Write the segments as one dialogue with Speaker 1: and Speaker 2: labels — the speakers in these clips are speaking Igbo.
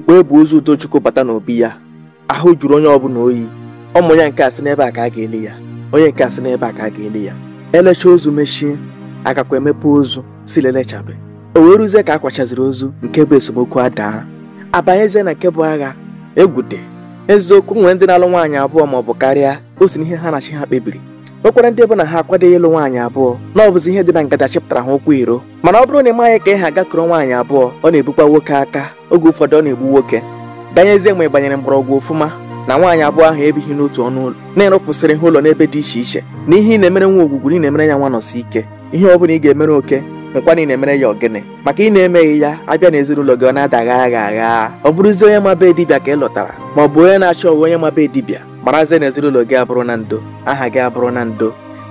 Speaker 1: mgbe e bu ozu Udochukwu bata n'obi ya ahụ juru onye ọbụla oyi ụmụ ya nke a sị n'ebe a ka a ga-eli ya onye nke a sị n'ebe a ka a ga-eli ya elecha ozu mechie agakwa emepe ozu sị elechabe o wee ruzie ka a kwachaziri ozu nke bụ esemokwu adaa abanyezie na nke bụ agha egwute eziokwu nwere ndị na-alụ nwaanyị abụọ ma ọ bụ karịa o si n'ihe ha na chi ha kpebiri o nwekwara ndị bụ na ha akwadoghị ịlụ nwaanyị abụọ na ọ bụzi ihe dị na ngada chịpụtara ha ụkwụ iro mana ọ bụrụ na ị maghị ka ị ha gaa kpọrọ nwaanyị abụọ ọ na-ebukwa nwoke aka oge ụfọdụ ọ na-egbu nwoke ganyezie mgbe ị gbanyere mgbọrọgwụ ofụma na nwaanyị abụọ ahụ ebighị n'otu ọnụ ụlọ na ị rụpụsịrị ha ụlọ n'ebe dị iche iche na ihe ị na-emere nwa ogwugwu na ị na-emere ya nwa Nọsike ihe ọ bụla ị ga-emere oke nkwa na ị na-emere ya ọgịnị maka ị na-emeghị ya abịa na ezinụlọ gị ọ na-ada gha gha gha ọ bụrụzie onye ma be dibịa ka ị lụtara ma ọ bụ onye na-achọwa onye ma be dibịa marazie na ezinụlọ gị abụrụna ndo aha gị abụrụna ndo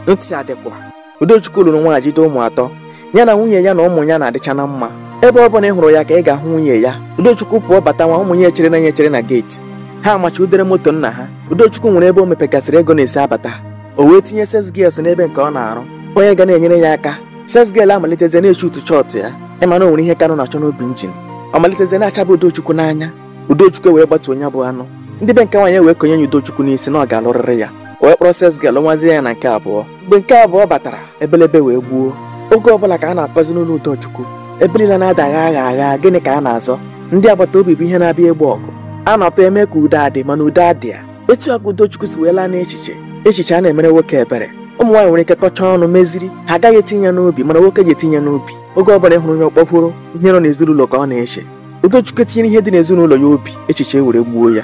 Speaker 1: ntị adịkwa Udochukwu lụrụ nwaanyị jide ụmụ atọ ya na nwunye ya na ụmụ ya na-adịcha na mma ebe ọ bụla ị hụrụ ya ka ị ga-ahụ nwunye ya Udochukwu pụọ batawa ụmụ ya echere ya na geeti ha amacha ụda moto nna ha Udochukwu nwere ebe o mepegasịrị ego na-esi abata o wee tinye sales girl n'ebe nke ọ na-arụ onye ga na-enyere ya aka sales girl amalitezie na-echi utu chọọtụ ya ịma na o nwere ihe Kanụ na-achọ n'obi njin ọ malitezie na-achaba Udochukwu n'anya Udochukwu wee gbatuo onye bụ anụ ndị be nke nwaanyị wee konye ya Udochukwu n'isi na ọ ga-alụrịrị ya o wee kpọrọ sales girl nụazie ya na nke abụọ mgbe nke abụọ batara ebelebe wee gbuo oge ọbụla ka a na-akpọzi n'ụlọ Udochukwu ebe niile na-ada gha gha gha gịnị ka a na-azọ ndị agbata obi bụ ihe na-abịa egbo ọgụ a na-atọ eme ka udo adị mana udo adịghị ya etu a ka Udochukwu si wee laa n'echiche echiche anaghị emere nwoke ebere ụmụ nwaanyị nwere ike kọchaa ọnụ meziri ha agaghị etinye ya n'obi mana nwoke ji etinye ya n'obi oge ọ bụla ị hụrụ onye ọkpọfuru ihe nọ n'ezinụlọ ka ọ na-eche Udochukwu etinyere ihe dị n'ezinụlọ ya obi echiche were gbuo ya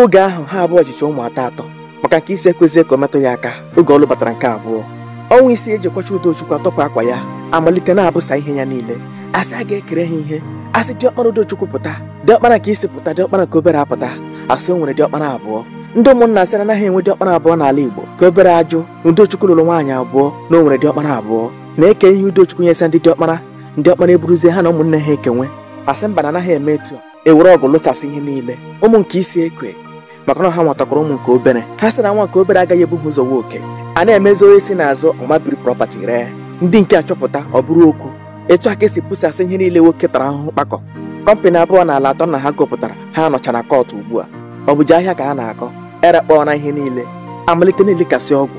Speaker 1: oge ahụ ha abụọ jicha ụmụ atọ atọ maka nke isi ekwezi ka o metụ ya aka oge ọ lụbatara nke abụọ ọnwa isii e ji akwacha Udochukwu atọpụ akwa ya amalite na-ebusa ihe ya niile asị a ga-ekere ha ihe asị diọkpara Udochukwu pụta diọkpara nke isi pụta diọkpara nke obere apụta asị o nwere diọkpara abụọ ndị ụmụnna asị na anaghị enwe diọkpara abụọ n'ala Igbo nke obere ajụ na Udochukwu lụrụ nwaanyị abụọ na o nwere diọkpara abụọ na e kee ihe Udochukwu nyesa ndị diọkpara ndị ọkpara eburuzie ha na ụmụnne ha ekewe asị mba na anaghị eme etu a ewere ọgụ lụsasị ihe niile ụmụ nke isi ekwe maka na ha nwatakwara ụmụ nke obere ha sị na nwa nke obere agaghị ebu ha ụzọ họọ oke a na-emezi onye si n'azụ ọ mabiri property ree ndị nke achọpụta ọ bụrụ okwu etu a ka esi busasị ihe niile nwoke tara ahụhụ kpakọ company abụọ na ala atọ na ha gụpụtara ha nọcha na court ugbu a ọ bụzi ahịa ka ha na-akọ erekpọọla ihe niile amalite na-elikasị ọgwụ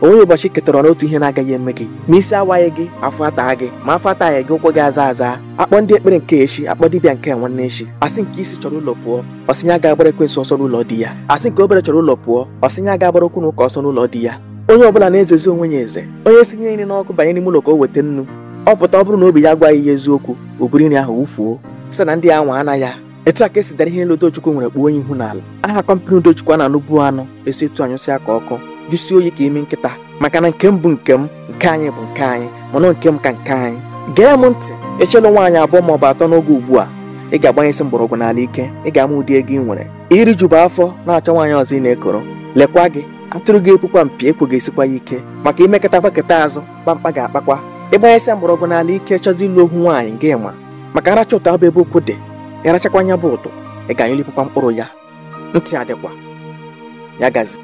Speaker 1: o nweghị ụbọchị ketara n'otu ihe na-agaghị eme gị ma isi awaghị gị afọ ataa gị ma afọ ataghị gị ụkwụ gị aza aza akpọ ndị ekpere nke echi akpọ dibịa nke nwanne echi asị nke isi chọrọ ụlọ pụọ ọ sị na ya agaghị agbara ekwensu ọsọ n'ụlọ di ya asị nke obere chọrọ ụlọ pụọ ọ sị na ya agaghị agbara okwu na ụka ọsọ n'ụlọ di ya onye ọbụla na-ezezi onwe ya eze onye sinye nri n'ọkụ banye n'ime ụlọ ka o weta nnu ọ pụta ọ bụrụ na obi ya agwaghị ya eziokwu o buru nri ahụ wụfuo sị na ndị anwa anaghị etu a ka esi dara ihe niile Udochukwu nwere kpuo onye ihu n'ala aha kọmpanị Udochukwu a na-anụbu anụ esi etu anyụsịa ka ọkụ jụsie oyi ka imi nkịta maka na nke m bụ nke m nke anyị bụ nke anyị mana nke m ka nke anyị gee m ntị echela nwaanyị abụọ ma ọ bụ atọ n'oge ugbu a ị ga-agbanyesi mgbọrọgwụ n'ala ike ị ga-ama ụdị ego ị nwere i rijubu afọ na-achọ nwaanyị ọzọ ị na-ekoro lekwa gị atụrụ ga-epukwa mpi ekwo ga-esikwa ya ike maka imekọta gbaketa azụ kpamkpa ga-akpakwa ịgbanyesi mgbọrọgwụ n'ala ike chọzi ịlụ ohu nwaanyị gị ma maka aracha ụtọ abụ ebe okwu dị ị rachakwa nya bụ ụtọ ị ga-anyụlipụkwa mkpụrụ ya ntị adịkwa ya gazie